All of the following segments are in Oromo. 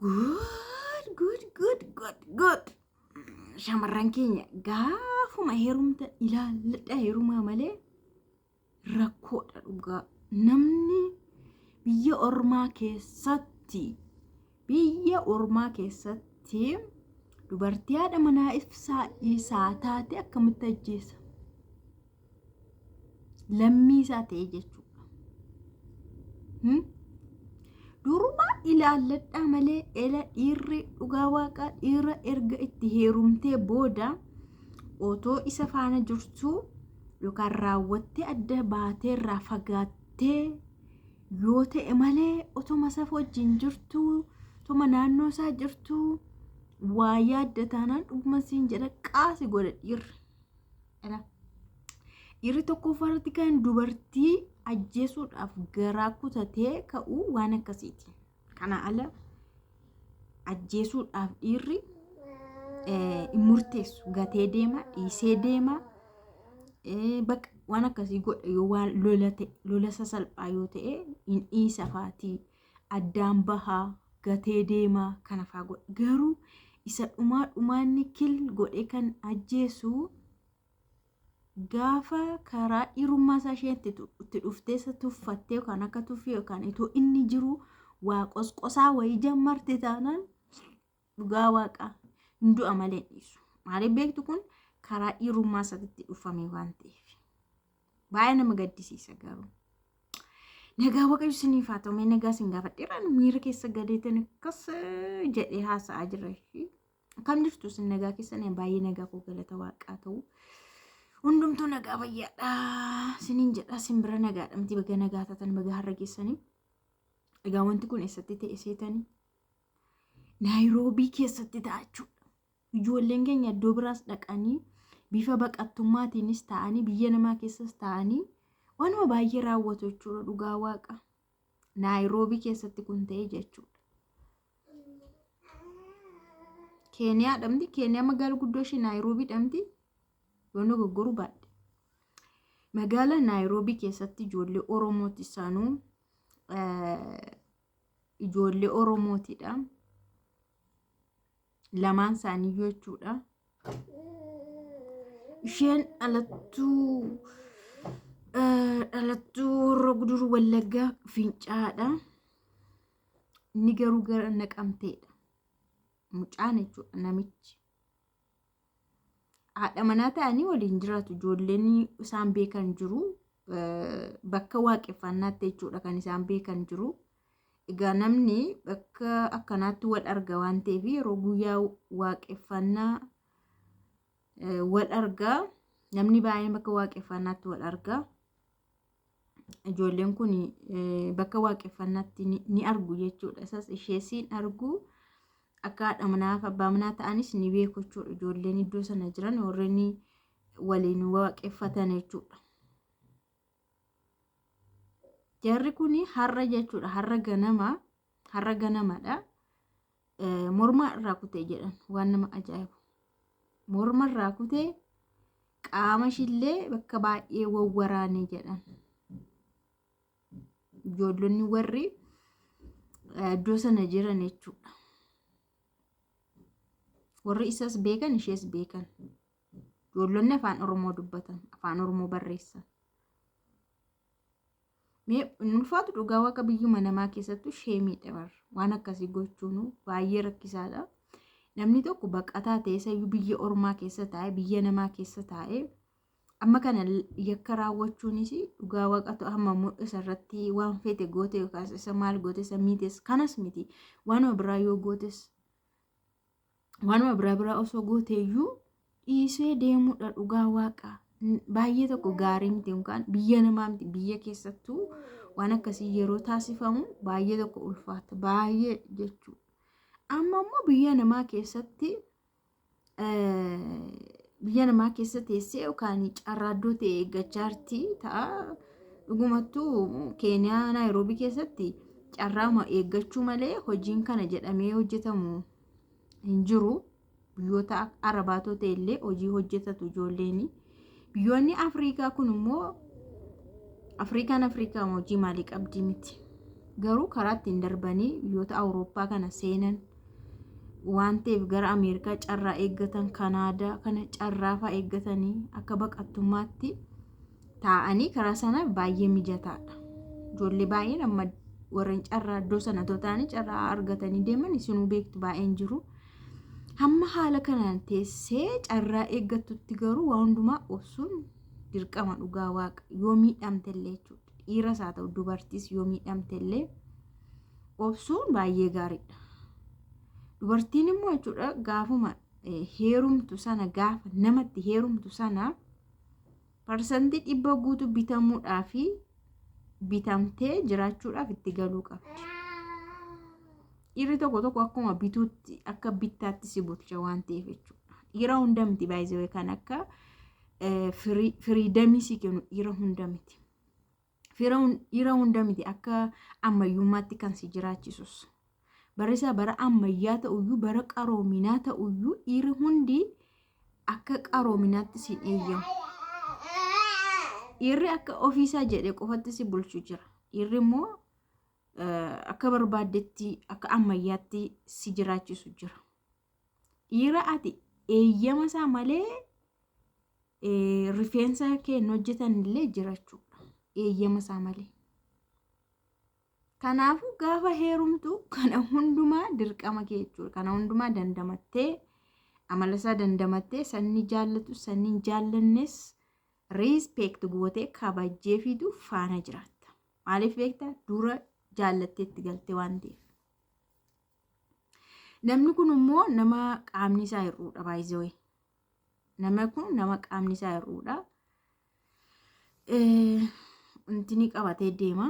Good, good, good, good, good. Shamarran keenya gaafuma heerumta ilaalladha heerumaa malee rakkoodha dhugaa. Namni biyya ormaa keessatti biyya ormaa keessatti dubartii haadha manaa ibsaa isaa taate akkamitti ajjeesa? lammii isaa ta'e jechuudha. Hmm? Durumaa ilaalladhaa malee ela dhiirri dhugaa waaqaa dhiira erga itti heerumtee booda otoo isa faana jirtuu yookaan raawwattee adda baatee irraa fagaattee yoo ta'e malee otoma isa wajjin jirtuu otoma naannoo isaa jirtuu waa yaadda taanaan dhuguma siin jedha qaasi godha dhiirri. Dha. Dhiirri tokkoffaa irratti kan dubartii ajjeesuudhaaf garaa kutatee ka'u waan akkasiiti. Kana ala ajjeesuudhaaf dhiirri eh, hin murteessu. Gatee deema, dhiisee deema, eh, baqa waan akkasii godha yoo waan lola ta'e, lola sasalphaa yoo ta'e hin dhiisa faatii. addaan bahaa, gatee deema kana faa godha. Garuu isa dhumaa dhumaa inni kill godhee kan ajjeesu gaafa karaa dhiirummaa isaa isheen itti tu- itti dhuftee isa tuffattee yookaan akka tuffii yookaan itoo inni jiru waa qosqosaa wayii jammarte taanaan dhugaa waaqaa hin du'a malee hin dhiisu maaliif beektu kun karaa dhiirummaa isaatti dhufame waan ta'eef baay'ee nama gaddisiisa garuu nagaa waaqayyo isiniif haa ta'u mee nagaa isin gaafadheera nu miira keessa gadeetan akkas jedhee haasa'aa jira ishii akkam jirtu isin nagaa keessan baay'ee nagaa koo galata waaqaa ta'u hundumtuu nagaa fayyaadha isiniin jedha isin bira nagaadha miti baga nagaa taatan baga har'a geessanii egaa wanti kun eessatti ta'e seetanii Naayiroobii keessatti ta'a jechuudha. Ijoolleen keenya iddoo biraas dhaqanii bifa baqattummaatiinis ta'anii biyya namaa keessas ta'anii waanuma baay'ee raawwatu jechuudha dhugaa waaqa. Naayiroobii keessatti kun ta'e jechuudha. Keeniyaa dhamti Keeniyaa magaalaa guddoo ishee Naayiroobii dhamti yoon dogoggoruu baadhe. Magaalaa Naayiroobii keessatti ijoollee Oromootti isaanuu ijoollee Oromootidha. Lamaan isaanii jechuudha. Isheen dhalattuu eh, dhalattuu warra guduruu wallaggaa fincaadha. Inni garuu gara naqamteedha. Mucaan jechuudha namichi. haadha manaa ta'anii waliin jiraatu ijoolleen isaan beekan jiru bakka waaqeffannaatti jechuudha kan isaan beekan jiru egaa namni bakka akkanaatti wal arga waan ta'eef yeroo guyyaa waaqeffannaa wal argaa namni baay'een bakka waaqeffannaatti wal argaa ijoolleen kun bakka waaqeffannaatti ni argu jechuudha. Isas ishee siin argu akka haadha manaaf abbaa manaa ta'anis ni beeku jechuudha. Ijoolleen iddoo sana jiran warreen waliin waaqeffatan jechuudha. Jarri kun har'a jechuudha har'a ganama har'a ganamadha mormaa irraa kutee jedhan waan nama ajaa'ibu morma irraa kutee qaama ishillee bakka baay'ee wawwaraanee jedhan ijoollonni warri iddoo sana jiran jechuudha warri isas beekan ishees beekan ijoollonni afaan oromoo dubbatan afaan oromoo barreessan Mee hin ulfaatu dhugaa waaqa biyyuma namaa keessattuu sheemiidha bar. Waan akkasii gochuun baay'ee rakkisaadha. Namni tokko baqataa ta'ee sayyuu biyya ormaa keessa taa'ee biyya namaa keessa taa'ee amma kana yakka raawwachuunis dhugaa waaqatu amma mul'isa irratti waan feete goote yookaas isa maal goote isa miites kanas miti waanuma biraa yoo gootes waanuma biraa biraa osoo gooteeyyuu dhiisee deemuudha dhugaa waaqa baay'ee tokko gaarii miti yookaan biyya namaa miti biyya keessattuu waan akkasii yeroo taasifamu baay'ee tokko ulfaata baay'ee jechuudha. Amma immoo biyya namaa keessatti biyya namaa keessa teessee yookaan carraaddoo ta'e eeggachaa jirti ta'a. Dhugumattuu Keeniyaa Naayiroobii keessatti carraama eeggachuu malee hojiin kana jedhamee hojjetamu hin jiru. Biyyoota arabaatoo ta'e illee hojii hojjetatu ijoolleen. Biyyoonni Afrikaa kun immoo Afrikaan Afrikaa hojii maalii qabdi miti. Garuu karaa ittiin darbanii biyyoota Awurooppaa kana seenan. waan ta'eef gara Ameerikaa carraa eeggatan Kanaadaa kana carraa fa'aa eeggatanii akka baqattummaatti taa'anii karaa sana baay'ee mijataadha. Ijoollee baay'een amma warreen carraa iddoo sana otoo ta'anii carraa argatanii deeman isinuu beektu baay'een jiru. Hamma haala kanaan teessee carraa eeggattutti garuu waa hundumaa obsuun dirqama dhugaa waaqa yoo miidhamte illee jechuudha. Dhiiras haa ta'u dubartiis yoo miidhamte illee obsuun baay'ee gaariidha. Dubartiin immoo jechuudha gaafuma heerumtu sana gaafa namatti heerumtu sana parsantii dhibba guutuu bitamuudhaa fi bitamtee jiraachuudhaaf itti galuu qabdi. Dhiirri tokko tokko akkuma bituutti akka bittaatti si bulcha waan ta'eef jechuudha. Dhiira hunda miti baay'isee kan akka firiidamii si kennu dhiira hunda miti. Dhiira hunda miti akka ammayyummaatti kan si jiraachisus. Barisaa bara ammayyaa ta'uyyuu bara qaroominaa ta'uyyuu dhiirri hundi akka qaroominaatti si eeyyamu. Dhiirri akka ofiisaa jedhe qofatti si bulchu jira. Dhiirri immoo akka barbaaddetti akka ammayyaatti si jiraachisu jira. Dhiira ati eeyyama isaa malee eh, rifeensa kee hin hojjetan illee jirachuudha. Eeyyama isaa malee. Kanaafuu gaafa heerumtu kana hundumaa dirqama kee jechuudha. Kana hundumaa dandamattee amala isaa dandamattee sanni jaallatu sanni hin jaallannes riispeekt gootee kabajjee fiitu faana jiraatta. Maaliif beektaa? Dura jaallatteetti galte waan ta'eef. Namni kun immoo nama qaamni isaa hir'uudha baay'isee. Nama kun nama qaamni isaa hir'uudha. Intini qabatee deema.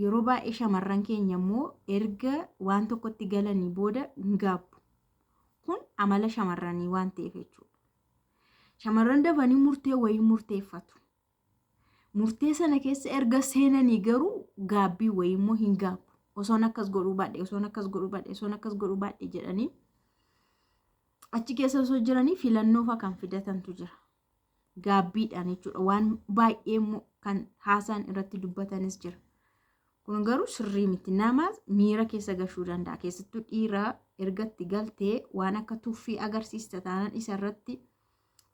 Yeroo baay'ee shamarran keenya immoo erga waan tokkotti galanii booda hin gaabbu. Kun amala shamarranii waan ta'eef jechuudha. Shamarran dafanii murtee wayii murteeffatu. Murtee sana keessa erga seenanii garuu gaabbii wayii immoo hin gaabbu. Osoon akkas godhuu baadhe, osoon akkas godhuu baadhe, osoon akkas godhuu baadhe jedhanii achi keessa osoo jiranii filannoofa kan fidatantu jira. Gaabbiidhaan jechuudha. Waan baay'ee immoo kan haasaan irratti dubbatanis jira. Kun garuu sirrii miti. Nama miira keessa gashuu danda'a. Keessattuu dhiira ergatti galtee waan akka tuffii agarsiista taanaan isa irratti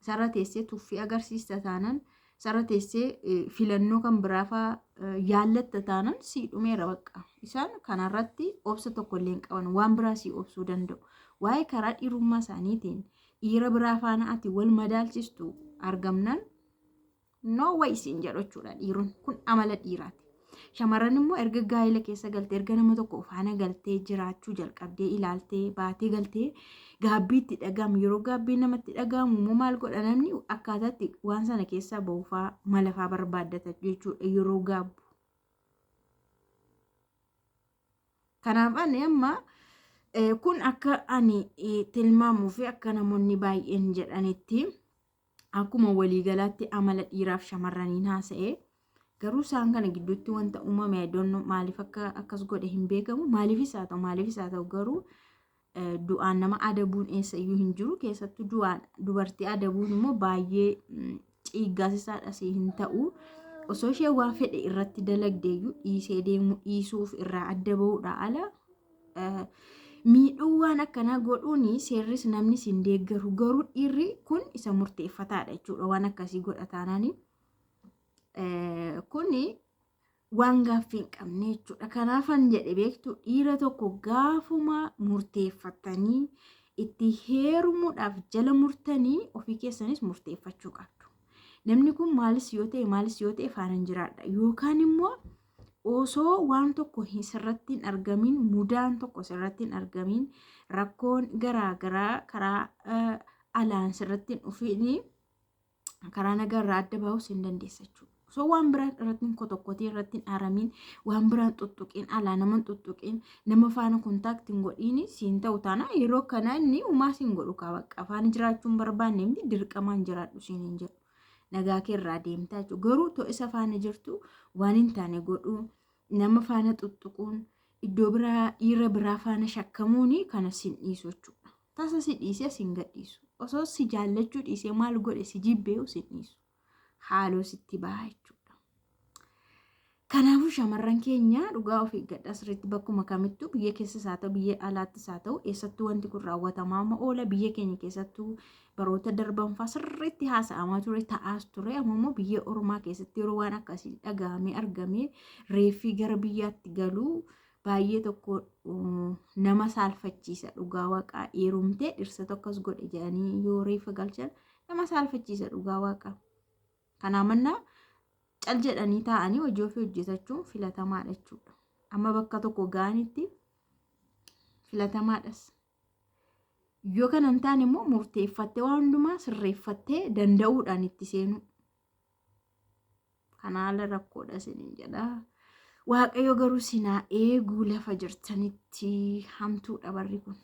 Isarra teessee tuffii agarsiista taanan isarra teessee filannoo kan biraafaa yaallatta taanan sii dhumeera bakka. Isaan kanarratti obsa tokko illee hin qaban waan biraa sii obsuu danda'u. Waa'ee karaa dhiirummaa isaaniitiin dhiira biraa faana ati wal madaalchistu argamnaan no way siin jedhu jechuudha dhiiron kun amala dhiiraati. Shamarran immoo erga gaa'ela keessa galtee erga nama tokko faana galtee jiraachuu jalqabdee ilaaltee baatee galtee gaabbii itti dhaga'amu yeroo gaabbii namatti dhaga'amu immoo maal godha namni akkaataatti waan sana keessaa ba'uufaa malafaa barbaaddata jechuudha yeroo gaabbu. Kanaaf ani amma kun akka ani tilmaamuu fi akka namoonni baay'een jedhanitti. Akkuma waliigalaatti amala dhiiraaf shamarraniin haasa'e garuu isaan kana gidduutti wanta uumame iddoon maaliif akka akkas godhe hin beekamu maaliifis haa ta'u maaliifis haa ta'u garuu du'aan nama adabuun eessa iyyuu hin jiru keessattuu du'aan dubartii adabuun immoo baay'ee ciiggaasisaadha si hin ta'u osoo ishee waa fedhe irratti dalagdeeyyuu dhiisee deemuu dhiisuuf irraa adda ba'uudha ala miidhuu waan akkanaa godhuun seerris namnis hin deeggaru garuu dhiirri kun isa murteeffataadha jechuudha waan akkasii godha taanaanii kun waan gaaffii hin qabne jechuudha kanaafan jedhe beektu dhiira tokko gaafuma murteeffatanii itti heerumuudhaaf jala murtanii ofii keessanis murteeffachuu qabdu namni kun maalis yoo ta'e maalis yoo ta'e faana hin jiraadha yookaan immoo osoo waan tokko hin sirratti hin argamin mudaan tokko sirratti hin argamin rakkoon garaa garaa karaa eh, alaan sirratti hin dhufin karaa nagaa irraa adda bahuus hin dandeessa jechuudha. Osoo waan biraan irratti hin kotokkotiin irratti hin aramin waan biraan tuttuqiin alaa nama hin tuttuqiin nama faana kontaakti hin godhiin siin ta'u taana yeroo kana inni umaa siin godhu kaa bakka afaan jiraachuu hin barbaanne miti dirqamaan jiraadhu siin hin jedhu. Nagaa kee irraa deemtaa jechuudha. Garuu too isa faana jirtu waan hin taane godhuu nama faana xuxxuquun iddoo biraa dhiira biraa faana shakkamuun kana sin dhiisu jechuudha. Tasa si dhiisee sin gadhiisu. Osoo si jaallachuu dhiisee maal godhe si jibbeeyu sin dhiisu. Haaloo sitti baha jechuudha. Kanaafuu shamarran keenya dhugaa of eeggadhaa sirriitti bakkuma kamittuu biyya keessas haa ta'u biyya alaattis haa ta'u eessattuu wanti kun raawwatamaa ma oola biyya keenya keessattuu baroota darban fa'aa sirriitti haasa'amaa ture ta'aas ture amma immoo biyya ormaa keessatti yeroo waan akkasii dhagahamee argamee reeffii gara biyyaatti galuu baay'ee tokko nama saalfachiisa dhugaa waaqaa eerumtee dhirsa tokkos godhe jedhanii yoo reeffa galchan nama saalfachiisa dhugaa waaqaa. Kanaa mannaa cal jedhanii taa'anii hojii ofii hojjetachuun filatamaadha jechuudha. Amma bakka tokko ga'anitti filatamaadhas. Yoo kana hin taane immoo murteeffattee waan hundumaa sirreeffattee danda'uudhaan itti seenuu. Kana haala rakkoodha isiniin jedha. Waaqayyo garuu sinaa eeguu lafa jirtanitti hamtuudha barri kun.